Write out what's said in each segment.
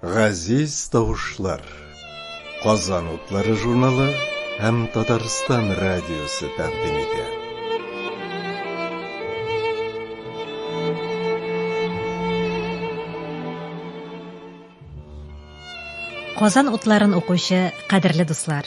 Газиз тавышлар. Казан утлары журналы һәм Татарстан радиосы тәкъдим итә. Казан утларын укучы кадерле дуслар.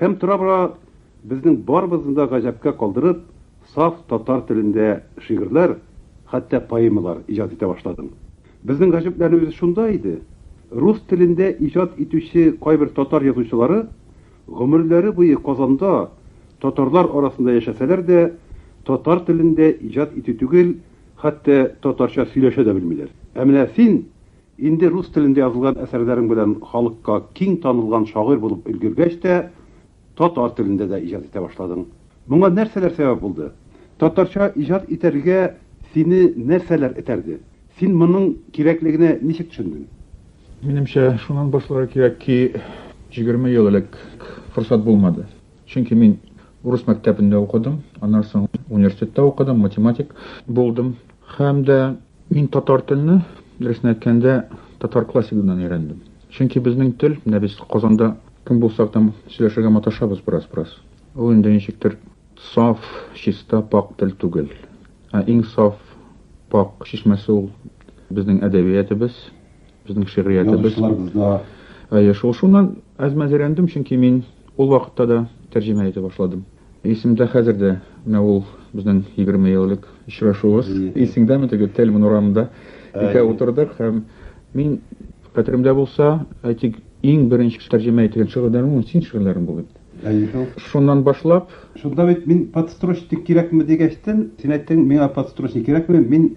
Һәм тора-бара, безнең барыбызны да гаҗәпкә калдырып, саф татар телендә шигырьләр, хәтта поэмалар иҗат итә башладым. Безнең гаҗәпләнүебез шунда иде, рус телендә иҗат итүче кайбер татар язучылары гомерләре буе Казанда, татарлар арасында яшәсәләр дә, татар телендә иҗат итү түгел, хәтта татарча сөйләшә дә белмиләр. Ә менә син, Инде рус телендә язылган әсәрләрең белән халыкка киң танылган шагыйрь булып өлгергәч тә, татар телендә дә иҗат итә башладың. Моңа нәрсәләр сәбәп булды? Татарча иҗат итәргә сине нәрсәләр этәрде? Син моның кирәклегенә ничек төшендең? Минемчә, шуннан башларга кирәк ки, җигерме ел элек форсат булмады. Чөнки мин урыс мәктәбендә укыдым, аннан соң университетта укыдым, математик булдым. Һәм дә мин татар телне, дөресен әйткәндә, татар классигыннан өйрәндем. Чөнки безнең тел, менә без Казанда кем булсак та сөйләшергә маташабыз бераз-бераз. Ул инде ничектер саф, чиста, пакь тел түгел. Ә иң саф, пакь чишмәсе ул безнең әдәбиятебез. Безнең шигъриятебез. Әйе, шул шуннан әзмәз өйрәндем, чөнки мин ул вакытта да тәрҗемә итә башладым. Исемдә хәзер дә менә ул безнең 20 ел элек очрашуыбыз. Исеңдәме теге Тельман урамында икәү утырдык һәм мин хәтеремдә булса, әйтик, иң беренче тәрҗемә ителгән шигырьләрем син шигырьләрең булды. Шуннан башлап. Шунда бит мин подстрочник кирәкме дигәчтен, син әйттең, миңа подстрочник кирәкме, мин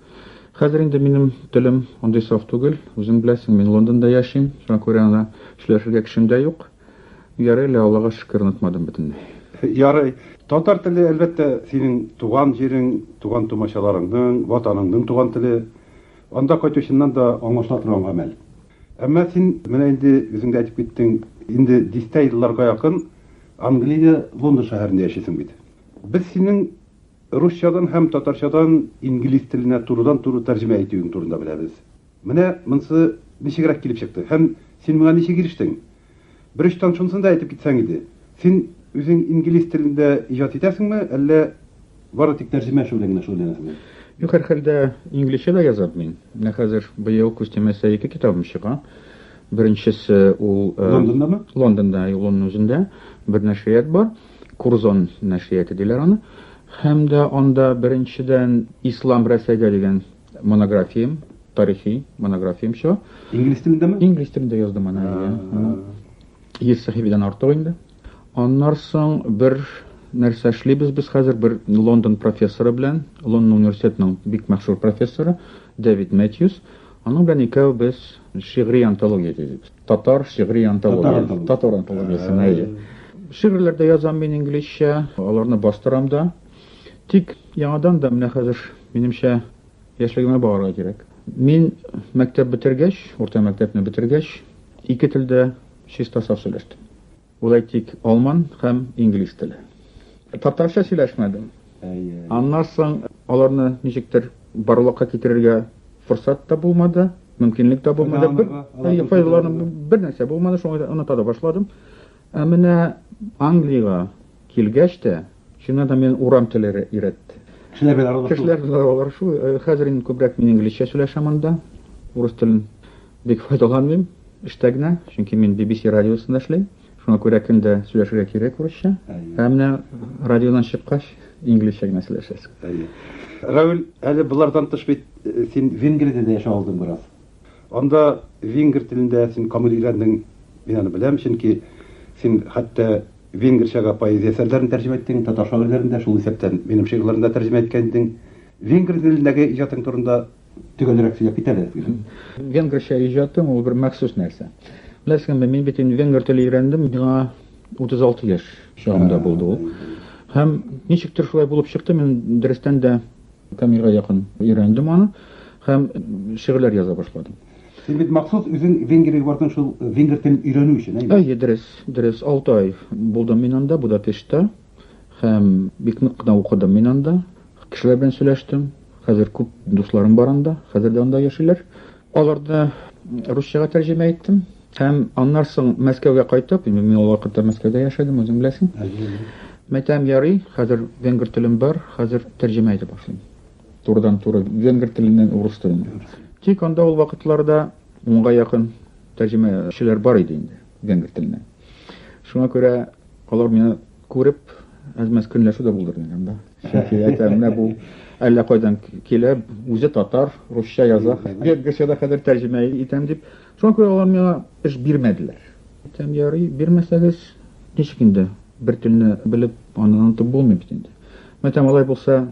Хәзер инде минем телем андый саф түгел, үзең беләсең, мин Лондонда яшим, шуңа күрә ана сөйләшергә кешем дә юк. Ярый лә, Аллага шөкер, онытмадым бөтенләй. Ярый. Татар теле, әлбәттә, синең туган җирең, туган-тумачаларыңның, Ватаныңның туган теле. Анда кайтучыннан да аңлашыла торган гамәл. Әмма син менә инде үзең дә әйтеп киттең, инде дистә елларга якын Англиядә, Лондон шәһәрендә яшисең бит. Без синең. Русчадан һәм татарчадан инглиз теленә турыдан-туры тәрҗемә итүең турында беләбез. Менә монсы ничегрәк килеп чыкты һәм син моңа ничек ирештең? Бер очтан шунысын да әйтеп китсәң иде, син үзең инглиз телендә иҗат итәсеңме, әллә бары тик тәрҗемә эше белән генә шөгыльләнәсеңме? Юк, һәрхәлдә, инглизчә дә язам мин. Менә хәзер быел күз тимәсә ике китабым чыга. Беренчесе ул, Лондондамы? Лондонда, юк, Лондон үзендә бер нәшрият бар. Курзон нәшрияты диләр аны. Һәм дә анда, беренчедән, Ислам Рәсәйгә дигән монографиям, тарихи монографиям чыга. Инглиз телендәме? Инглиз телендә яздым аны. Йөз сәхифәдән артык инде. Аннар соң бер нәрсә эшлибез без хәзер бер Лондон профессоры белән, Лондон университетының бик мәшһүр профессоры Дэвид Мэтьюс. Аның белән икәү без шигъри антология төзибез. Татар шигъри антологиясе. Татар антологиясен, әйе. Шигырьләр дә язам мин инглизчә, аларны бастырам да. Тик яңадан да менә хәзер, минемчә, яшьлегемә барырга кирәк. Мин мәктәп бетергәч, урта мәктәпне бетергәч, ике телдә чиста саф сөйләштем. Ул әйтик, алман һәм инглиз теле. Татарча сөйләшмәдем. Аннан соң аларны ничектер барлыкка китерергә форсат та булмады, мөмкинлек тә булмады. Бер нәрсә булмады, шуңа да оныта да башладым. Ә менә Англиягә килгәч тә, чыннан да мин урам телләре өйрәтте. Кешеләр белән аралашу. Кешеләр белән аралашу. Хәзер инде күбрәк мин инглизчә сөйләшәм анда, урыс телен. Бик файдаланмыйм, эштә генә, чөнки мин BBC радиосында эшлим. Шуңа күрә көн дә сөйләшергә кирәк урысча. Ә менә радионан чыккач, инглизчә генә сөйләшәсең. Әйе. Равил, әле болардан тыш бит син Венгриядә дә яшәп алдың бераз. Анда венгр телендә син камил өйрәндең, мин аны беләм, чөнки син хәтта венгрчага поэзия әсәрләрен тәрҗемә иттең, татар шагыйрьләрен дә, шул исәптән минем шигырьләрне дә тәрҗемә иткән идең. Венгр телендәге иҗатың турында Төгәлрәк сөйләп кит әле. Венгрча иҗатың ул бер махсус нәрсә. Беләсеңме, мин бит инде венгр теле өйрәндем, миңа 36 яшь чагымда булды ул. Һәм ничектер шулай булып чыкты, мин дөрестән дә камилгә якын өйрәндем аны һәм шигырьләр яза башладым. Син бит махсус үзең Венгриягә бардың шул венгр телен өйрәнү өчен, әйе? Әйе, дөрес, дөрес. 6 ай булдым мин анда, Будапештта. Һәм бик нык кына укыдым мин анда. Кешеләр белән сөйләштем. Хәзер күп дусларым бар анда. Хәзер дә анда яшиләр. Аларны русчага тәрҗемә иттем. Һәм аннар соң Мәскәүгә кайтып, мин ул вакытта Мәскәүдә яшәдем, үзең беләсең. Мәйтәм ярый, хәзер венгр телем бар, хәзер тәрҗемә итеп башлыйм. Турыдан туры венгр теленнән урыс теленә. Тик анда ул вакытларда унга якын тәрҗемәчеләр бар иде инде. венгр теленә. Шуңа күрә алар мине күреп, әз-мәз көнләшү дә булдырды анда. Чөнки әйтәм, менә бу әллә кайдан килә, үзе татар, русча яза, венгрча да хәзер тәрҗемә итәм дип. Шуңа күрә алар миңа эш бирмәделәр. Әйтәм, ярый, бирмәсәгез, ничек инде бер телне белеп, аны онытып булмый бит инде. Мәйтәм, алай булса,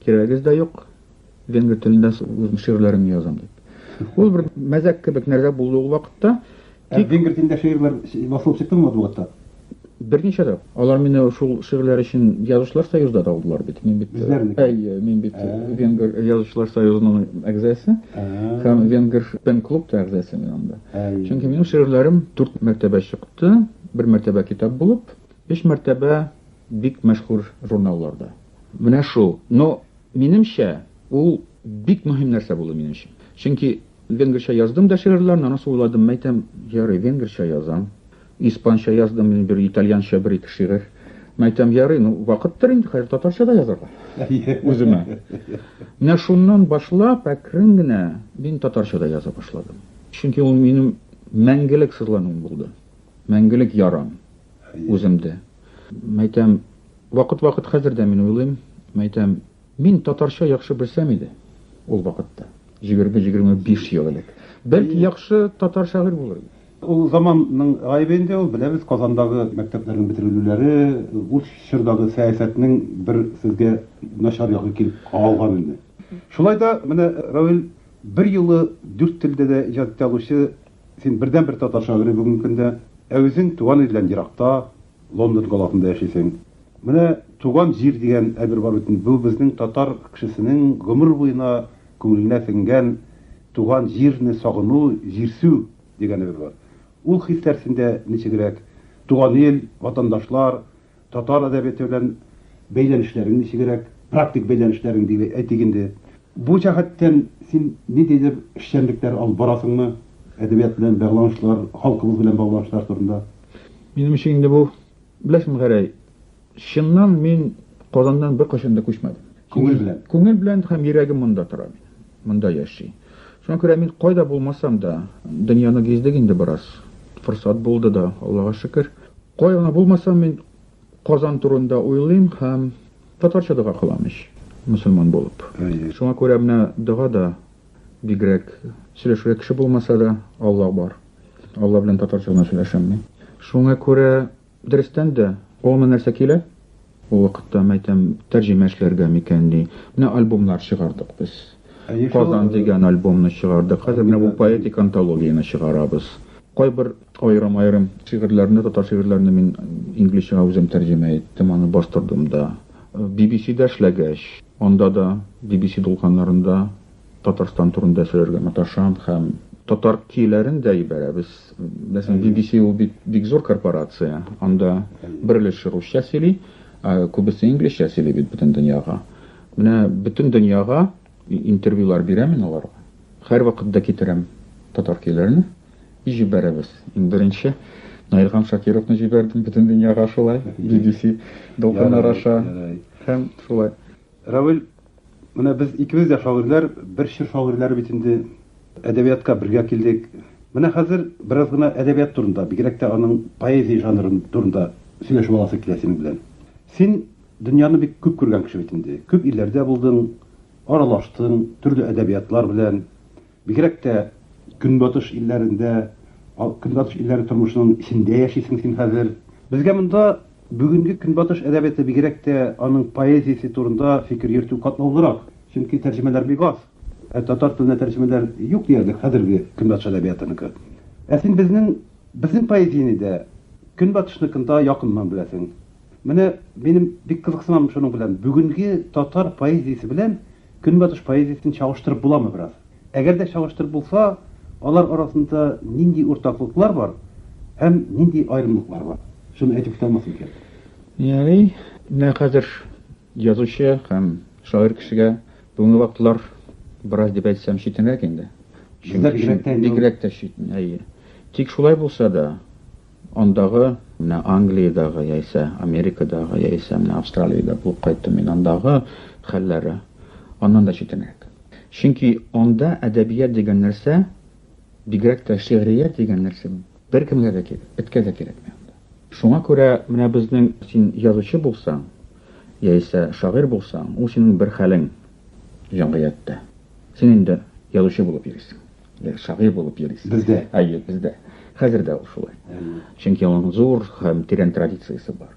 Кирәгез дә юк, венгр телендә үзем шигырьләремне язам дип. Ул бер мәзәк кебек нәрсә булды ул вакытта. Ә Тик венгр телендә шигырьләр басылып чыктымы матбугатта? берничә дә. Алар мине шул шигырьләр өчен Язучылар союзда да алдылар бит. Мин бит Безләрне? әйе, мин бит Ә. Венгр Язучылар союзының әгъзасы Ә. һәм Венгр пен-клуб та әгъзасы мин анда. Әй. Чөнки минем шигырьләрем дүрт мәртәбә чыкты, бер мәртәбә китап булып, өч мәртәбә бик мәшһүр журналларда. Менә шул. Но, минемчә, ул бик мөһим нәрсә булды минем өчен. Чөнки венгрча яздым да шигырьләрне, аннан соң уйладым, мәйтәм, ярый, венгрча язам. Испанча яздым мин бер, итальянча бер-ике шигырь. Мәйтәм, ярый, ну, вакыттыр инде, хәзер татарча да язарга. Үземә. Менә шуннан башлап, әкрен генә мин татарча да яза башладым. Чөнки ул минем мәңгелек сызлануым булды. Мәңгелек ярам үземдә. Мәйтәм, вакыт-вакыт хәзер дә мин уйлыйм, мәйтәм, мин татарча яхшы белсәм иде ул вакытта, җигерме-җигерме биш ел элек. Бәлки яхшы татар шагыйрь булыр идем. Ул заманның гаебе инде ул, беләбез, Казандагы мәктәпләрнең бетерелүләре, ул чордагы сәясәтнең бер сезгә начар ягы килеп кагылган инде. Шулай да, менә Равил берьюлы дүрт телдә дә иҗат итә алучы Син бердәнбер татар шагыйре бүгенге көндә. Ә үзең туган илдән еракта, Лондон каласында яшисең. Менә туган җир дигән әйбер бар бит инде. Бу безнең татар кешесенең гомер буена күңеленә сеңгән туган җирне сагыну, җирсү дигән әйбер бар. Ул хисләр синдә ничегрәк? Туган ил, ватандашлар, Татар әдәбияты белән бәйләнешләрең ничегрәк? Практик бәйләнешләрең дип әйтик инде. Бу җәһәттән син ниндидер эшчәнлекләр алып барасыңмы? Әдәбият белән бәгланышлар, халкыбыз белән багланышлар турында. Минем өчен инде бу, беләсең, Гәрәй, чыннан мин Казаннан беркайчан да күчмәдем. Күңел белән. Күңел белән һәм йөрәгем монда тора минем. Монда яши. Шуңа күрә мин кайда булмасам да, дөньяны гиздек инде бераз. Форсат булды да, Аллага шөкер. Кая гына булмасам, мин Казан турында уйлыйм һәм татарча дога кылам ич, мөселман булып. Шуңа күрә менә дога да бигрәк сөйләшергә кеше булмаса да, Алла бар. Алла белән татарча гына сөйләшәм мин. Шуңа күрә Дөрестән дә, кулыма нәрсә килә? Ул вакытта, мәйтәм, тәрҗемә эшләргә микән ди. Менә альбомнар чыгардык без. Казан дигән альбомны чыгардык. Хәзер менә бу поэтик антологияне чыгарабыз. Кайбер аерым-аерым шигырьләрне, татар шигырьләрне мин инглизчәгә үзем тәрҗемә иттем, аны бастырдым да. BBC-дә эшләгәч, анда да BBC дулкыннарында Татарстан турында сөйләргә маташам һәм татар көйләрен дә ибәрәбез. Мәсәлән, BBC ул бит бик зур корпорация. Анда бер өлеше русча сөйли, ә күбесе инглизчә сөйли бит бөтен дөньяга. Менә бөтен дөньяга интервьюлар бирәм мин аларга. Һәрвакыт да китерәм татар көйләрен и җибәрәбез. Иң беренче Наилхан Шакировны җибәрдем бөтен дөньяга шулай, BBC дулкыннар аша һәм шулай. Равил, менә без икебез дә шагыйрьләр, бер чор шагыйрьләре бит инде. Әдәбиятка бергә килдек. Менә хәзер бераз гына әдәбият турында, бигрәк тә аның поэзия жанры турында сөйләшеп аласы килә синең белән. Син дөньяны бик күп күргән кеше бит инде. Күп илләрдә булдың, аралаштың төрле әдәбиятлар белән. Бигрәк тә Көнбатыш илләрендә, Көнбатыш илләре тормышының эчендә яшисең син хәзер. Безгә монда бүгенге Көнбатыш әдәбияты, бигрәк тә аның поэзиясе турында фикер йөртү катлаулырак, чөнки тәрҗемәләр бик аз. Ә татар теленә тәрҗемәләр юк диярлек хәзерге Көнбатыш әдәбиятыныкы. Ә син безнең, безнең поэзияне дә Көнбатышныкын да якыннан беләсең. Менә минем бик кызыксынам шуның белән, бүгенге татар поэзиясе белән Көнбатыш поэзиясен чагыштырып буламы бераз? Әгәр дә чагыштырып булса, алар арасында нинди уртаклыклар бар һәм нинди аерымлыклар бар? Шуны әйтеп үтә алмассың икән. Ярый, менә хәзер язучы һәм шагыйрь кешегә бүгенге вакытлар бераз дип әйтсәм читенрәк инде. Бездә бигрәк тә инде ул. Бигрәк тә читен, әйе. Тик шулай булса да. Андагы, менә Англиядагы яисә Америкадагы яисә менә Австралиядә булып кайттым мин, андагы хәлләре аннан да читенрәк. Чөнки анда әдәбият дигән нәрсә, бигрәк тә шигърият дигән нәрсә беркемгә дә кирәк, эткә дә кирәкми анда. Шуңа күрә менә безнең син язучы булсаң, яисә шагыйрь булсаң, ул синең бер хәлең җәмгыятьтә. Син инде язучы булып йөрисең. Э, шагыйрь булып йөрисез. Бездә. Әйе, бездә. Хәзер дә ул шулай. Чөнки аның зур һәм тирән традициясе бар.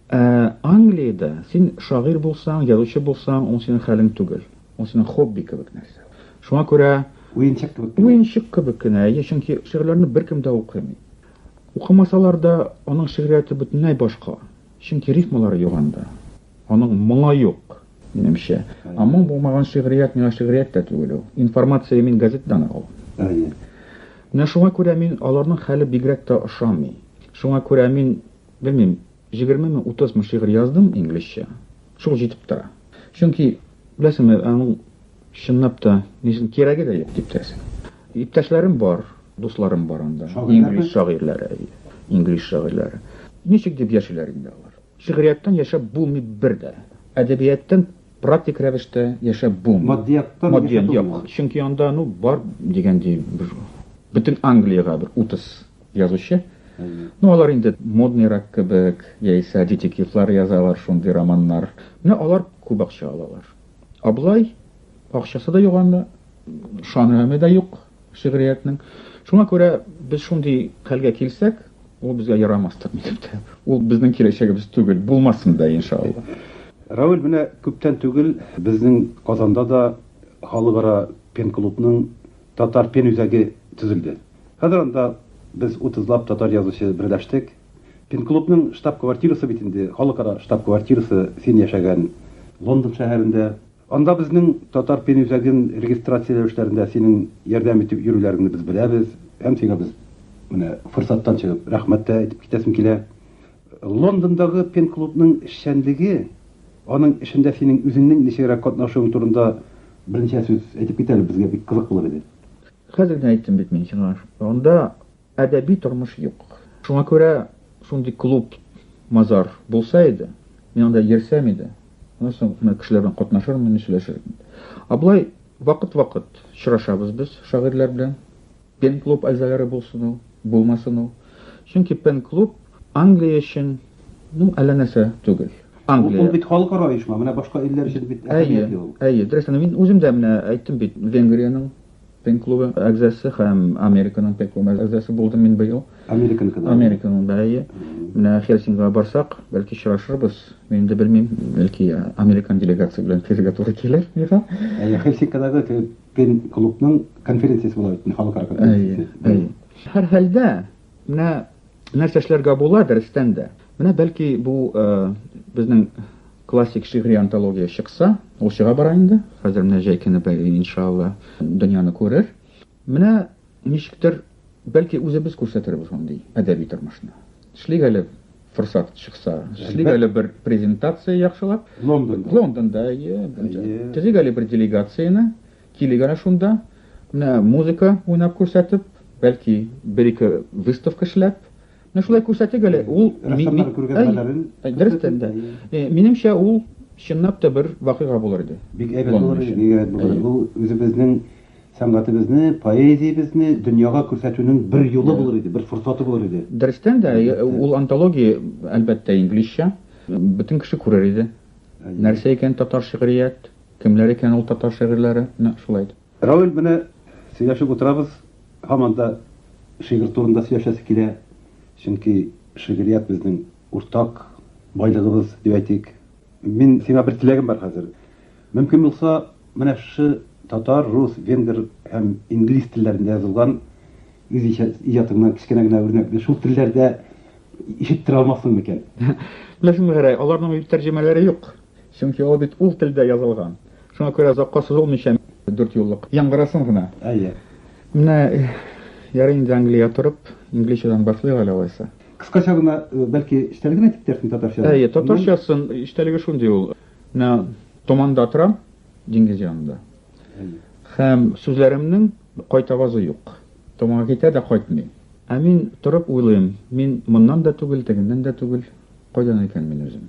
Ә, Англиядә син шагыйрь булсаң, язучы булсаң, ул синең хәлең түгел. Ул синең хобби кебек нәрсә. Шуңа күрә уенчык кебек. Уенчык кебек кенә, әйе, чөнки шигырьләрне беркем дә укымый. Укымасалар да, аның шигърияте бөтенләй башка. Чөнки рифмалары юганда. Аның моңа юк, минемчә. Ә моң булмаган шигърият миңа шигърият тә түгел ул. Информация мин газетадан ул. Менә шуңа күрә мин аларның хәле бигрәк тә ошамый. Шуңа күрә мин, белмим, җигерме ме, утыз ме шигырь яздым инглизчә. Шул җитеп тора. Чөнки, беләсеңме, аның чынлап та ни өчен кирәге дә юк дип торасың. Иптәшләрем бар, дусларым бар анда. Инглиз шагыйрьләре, әйе. Инглиз шагыйрьләре. Ничек дип яшиләр инде алар? Шигърияттән яшәп булмый бер дә. Әдәбияттән практик рәвештә яшәп булмый. Матдияттан яшәп булмый. Матдиян, юк. Чөнки анда, ну, бар дигәндәй бер бөтен Англиягә бер 30 язучы. Ну, алар инде модныйрак кебек, яисә детективлар язалар, шундый романнар. Менә алар күп акча алалар. Аблай акчасы да юк анда, шанраме да юк. шигъриятнең. Шуңа күрә без шундый хәлгә килсәк, ул безгә ярамастыр, ничек тә. Ул безнең киләчәгебез түгел, булмасын да, иншалла. Равил, менә күптән түгел безнең Казанда да Халыкара пен-клубның Татар пен-үзәге төзелде. Хәзер анда без утызлап татар язучы берләштек. Пен-клубның штаб-квартирасы бит инде, халыкара штаб-квартирасы син яшәгән Лондон шәһәрендә. Анда безнең Татар пен үзәген регистрацияләү эшләрендә синең ярдәм итеп йөрүләреңне без беләбез һәм сиңа без менә форсаттан чыгып рәхмәт тә әйтеп китәсем килә. Лондондагы пен клубның эшчәнлеге, аның эшендә синең үзеңнең ничегрәк катнашуың турында берничә сүз әйтеп кит әле, безгә бик кызык булыр иде. Хәзер генә әйттем бит мин сиңа, анда әдәби тормыш юк. Шуңа күрә шундый клуб, мазар булса иде, мин анда йөрсәм иде, аннан соң менә кешеләр белән катнашырмын идем, сөйләшермен идем. Ә болай вакыт-вакыт очрашабыз без шагыйрьләр белән. Пен-клуб әгъзалары булсын ул, булмасын ул. Чөнки пен-клуб. Англия өчен бу әллә нәрсә түгел. Англия. Ул бит халыкара оешма, менә башка илләр өчен бит әһәмиятле ул. Әйе, әйе, дөрес. Мин үзем дә менә әйттем бит, Венгриянең Пен клубы әгъзасы һәм Американың Пен клубы әгъзасы булдым мин быел. Американыкы да. Американың да, әйе. Менә Хельсинга барсак, бәлки очрашырбыз. Мин дә белмим, бәлки американ делегация белән килергә туры килер миңа. Әйе, Хельсинкадагы Пен клубның конференциясе була бит, халыкара конференциясе. Әйе, әйе. Һәрхәлдә, менә Нәрсә эшләргә була, дәрестән дә? Менә бәлки бу безнең классик шигъри антология чыкса, ул чыга бара инде. Хәзер менә җәй көне бәй, иншалла, дөньяны күрер. Менә ничектер бәлки үзебез күрсәтербез мондый әдәби тормышны. Эшлик әле форсат чыкса, эшлик әле бер презентация яхшылап. Лондонда. Лондонда, әйе. Төзик әле бер делегацияне. Килик әле шунда, менә музыка уйнап күрсәтеп, бәлки бер-ике выставка эшләп, менә шулай күрсәтик әле. Ул рәссамнар күргәзмәләрен дөрестән дә. Минемчә, ул чынлап та бер вакыйга булыр иде. Бик әйбәт булыр иде, бик әйбәт булыр. Бу үзебезнең сәнгатебезне, поэзиябезне дөньяга күрсәтүнең бер юлы булыр иде, бер форсаты булыр иде. Дөрестән дә, ул антология, әлбәттә, инглизчә. Бөтен кеше күрер иде. Нәрсә икән татар шигърият? Кемнәр икән ул татар шигырьләре? Нәкъ шулай итеп. Равил белә сөйләшеп утырабыз, һаман да шигырь турында сөйләшәсе килә, чөнки шигърият безнең уртак байлыгыбыз дип әйтик. Мин сиңа бер теләгем бар хәзер. Мөмкин булса, менә шушы татар, рус, венгр һәм инглиз телләрендә язылган үз иҗатыңнан кечкенә генә үрнәкне шул телләрдә ишеттерә алмассың микән? Беләсеңме, Гәрәй, аларның бит тәрҗемәләре юк. Чөнки ул бит ул телдә язылган. Шуңа күрә озакка сузылмыйча дүрт юллык яңгырасын гына. Әйе. Менә ярый инде Англия торып, инглизчәдән башлыйк әле алайса. Кыскача гына, бәлки, эчтәлеген генә әйтеп китәрсең татарча? Әйе, татарчасын эчтәлеге шундый ул. Менә томанда торам, диңгез янында. Һәм сүзләремнең кайтавазы юк. Томага китә дә кайтмый. Ә мин торып уйлыйм, мин моннан да түгел, тегеннән дә түгел, кайдан икән мин үзем?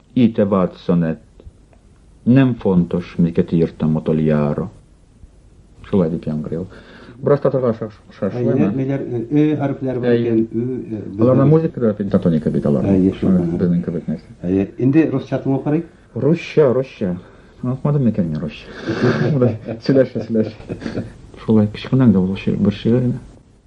I te vatson, et nem fontos, miket írtam utoljára. Шулай дип яңгырый ул. Бераз татырга шашлыймы? Ниләр, э хәрефләр бар икән, ы. Аларның музыкада пентатоника бит алар. Безнең кебек нәрсә. Әйе, инде русча тыңлап карыйк. Русча, русча. Онытмадым микән мин русча? Шулай, сөйләшә, сөйләшә. Шулай, кечкенәң дә булып бер шигырь генә.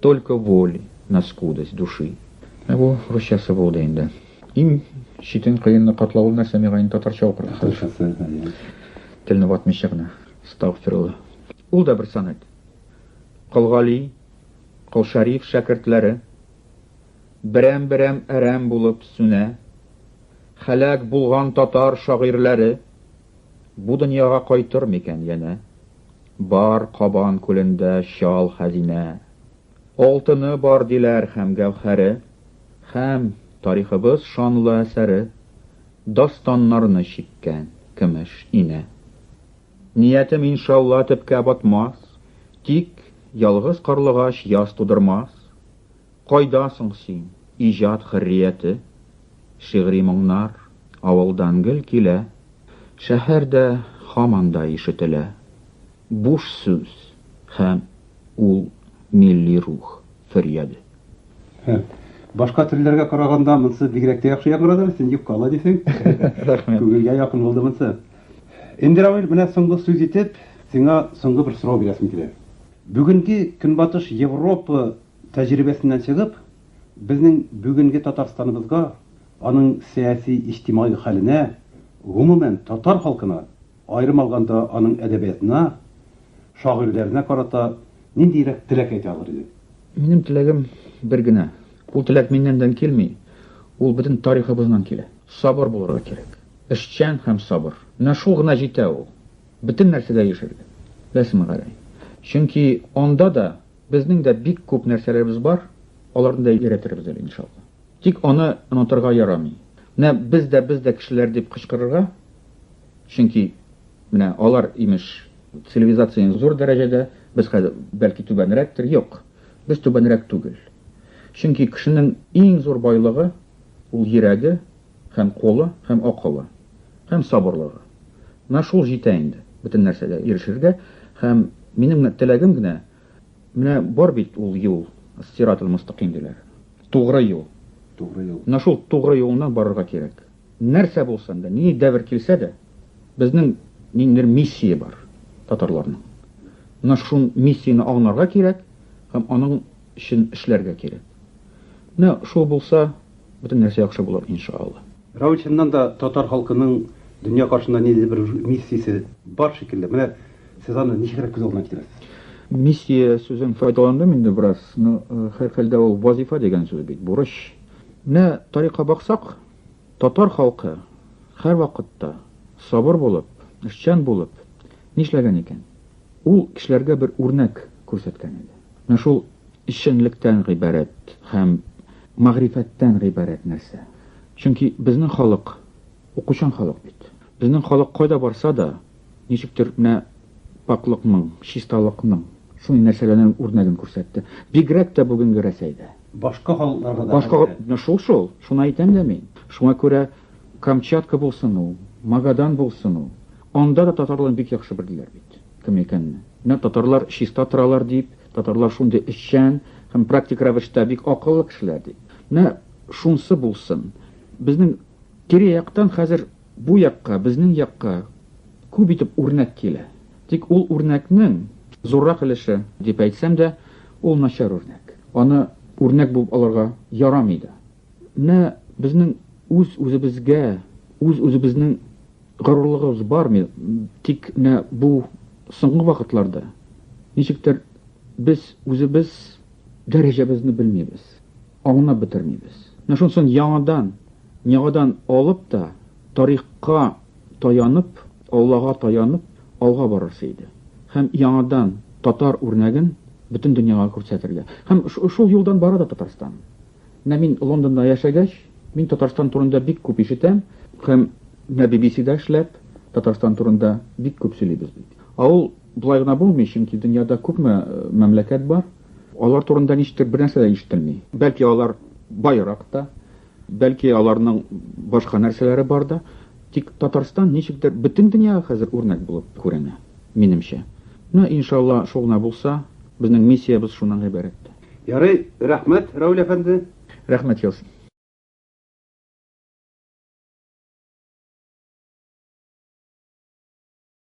Только воли на скудость души. Менә бу русчасы булды инде. Иң читен кыенны катлау ул нәрсә миңа инде татарча укырга. Татарчасы, әйе. Телне ватмыйча гына. Стагфирулла. Ул да бер сонет. Кол Гали, Кол Шәриф шәкертләре берәм-берәм әрәм булып сүнә. Хәлак булган татар шагыйрьләре бу дөньяга кайтыр микән янә? Бар Кабан күлендә чал хәзинә. Алтыны бар, диләр, һәм гәүһәре. Һәм, тарихыбыз шанлы әсәре. Дастаннарны чиккән көмеш инә. Ниятем, иншалла, төпкә батмас. Тик, ялгыз карлыгач яз тудырмас. Кайда соң син, иҗат хөррияте? Шигъри моңнар авылдан гел килә, Шәһәрдә һаман да ишетелә. Буш сүз һәм ул милли рух фөрьяде. Һе, башка телләргә караганда монсы бигрәк тә яхшы яңгырады, син юккала дисең. Рәхмәт. Күңелгә якын булды монсы. Энди Равил, менә соңгы сүз итеп, сиңа соңгы бер сорау бирәсем килә. Бүгенге Көнбатыш Европа Тәҗрибәсеннән чыгып, безнең бүгенге Татарстаныбызга, аның сәяси-иҗтимагый хәленә, гомумән, татар халкына, аерым алганда аның әдәбиятына, шагыйрьләренә карата ниндиерәк теләк әйтә алыр идең? Минем теләгем бер генә. Ул теләк миннәндән килми, ул бөтен тарихыбыздан килә. Сабыр булырга кирәк. Эшчән һәм сабыр. Менә шул гына җитә ул. Бөтен нәрсәгә ирешергә. Беләсеңме, Гәрәй? Чөнки анда да Безнең дә бик күп нәрсәләребез бар, аларны да өйрәтербез әле, иншалла. Тик аны онытырга ярамый. Менә без дә, без дә кешеләр дип кычкырырга, чөнки менә алар, имеш, цивилизациянең зур дәрәҗәдә, без хәзер, бәлки, түбәнрәктер, юк, без түбәнрәк түгел. Чөнки кешенең иң зур байлыгы, ул йөрәге, Һәм колы, һәм акылы, һәм сабырлыгы. Менә шул җитә инде бөтен нәрсәгә ирешергә, һәм минем генә теләгем генә, менә бар бит ул юл, ас-сират-ал-мостакыйм диләр, тугры юл. Тугры юл. Менә шул тугры юлыннан барырга кирәк. Нәрсә булсын да, нинди дәвер килсә дә, безнең ниндидер миссия бар татарларның. Менә шул миссияне аңларга кирәк һәм аның өчен эшләргә кирәк. Менә шул булса, бөтен нәрсә яхшы булыр, иншаАлла. Равил чыннан да татар халкының дөнья каршында ниндидер бер миссиясе бар шикелле. Менә сез аны ничегрәк күз алдына китерәсез? Миссия сүзен файдаландым инде бераз, но һәрхәлдә ул вазифа дигән сүз бит, бурыч. Менә тарихка баксак, татар халкы һәрвакытта сабыр булып, эшчән булып нишләгән икән? Ул кешеләргә бер үрнәк күрсәткән иде. Менә шул эшчәнлектән гыйбарәт һәм мәгърифәттән гыйбарәт нәрсә. Чөнки безнең халык укучан халык бит. Безнең халык кайда барса да, ничектер менә пакълыкның, чисталыкның шундый нәрсәләрнең үрнәген күрсәтте. Бигрәк тә бүгенге Рәсәйдә. Башка халыкларга да. Башка, менә шул шул, шуны әйтәм дә мин. Шуңа күрә. Камчатка булсын ул, Магадан булсын ул, анда да татарларны бик яхшы белделәр бит. Кем икәнне. Менә татарлар чиста торалар дип, татарлар шундый эшчән һәм практик рәвештә бик акыллы кешеләр дип. Менә шунсы булсын. Безнең тирә-яктан хәзер бу якка, безнең якка күп итеп үрнәк килә. Тик ул үрнәкнең зуррак өлеше дип әйтсәм дә, ул начар үрнәк. Аны үрнәк булып алырга ярамый да. Менә безнең үз-үзебезгә, үз-үзебезнең горурлыгыбыз бармы? Тик менә бу соңгы вакытларда ничектер без үзебез дәрәҗәбезне белмибез, аңлап бетермибез. Менә шунсын яңадан, яңадан алып та, тарихка таянып, Аллага таянып, алга барырсы иде. Һәм яңадан татар үрнәген бөтен дөньяга күрсәтергә. Һәм шул юлдан бара да Татарстан. Менә мин Лондонда яшәгәч, мин Татарстан турында бик күп ишетәм һәм менә BBC-да эшләп, Татарстан турында бик күп сөйлибез бит. Ә ул болай гына булмый, чөнки дөньяда күпме мәмләкәт бар, алар турында ничектер бернәрсә дә ишетелми. Бәлки алар баерак та, бәлки аларның башка нәрсәләре бар да, тик Татарстан ничектер бөтен дөньяга хәзер үрнәк булып күренә, минемчә. Ну, иншалла, шул гына булса, безнең миссиябез шуннан гыйбарәт. Ярый, рәхмәт, Равил әфәнде. Рәхмәт яз.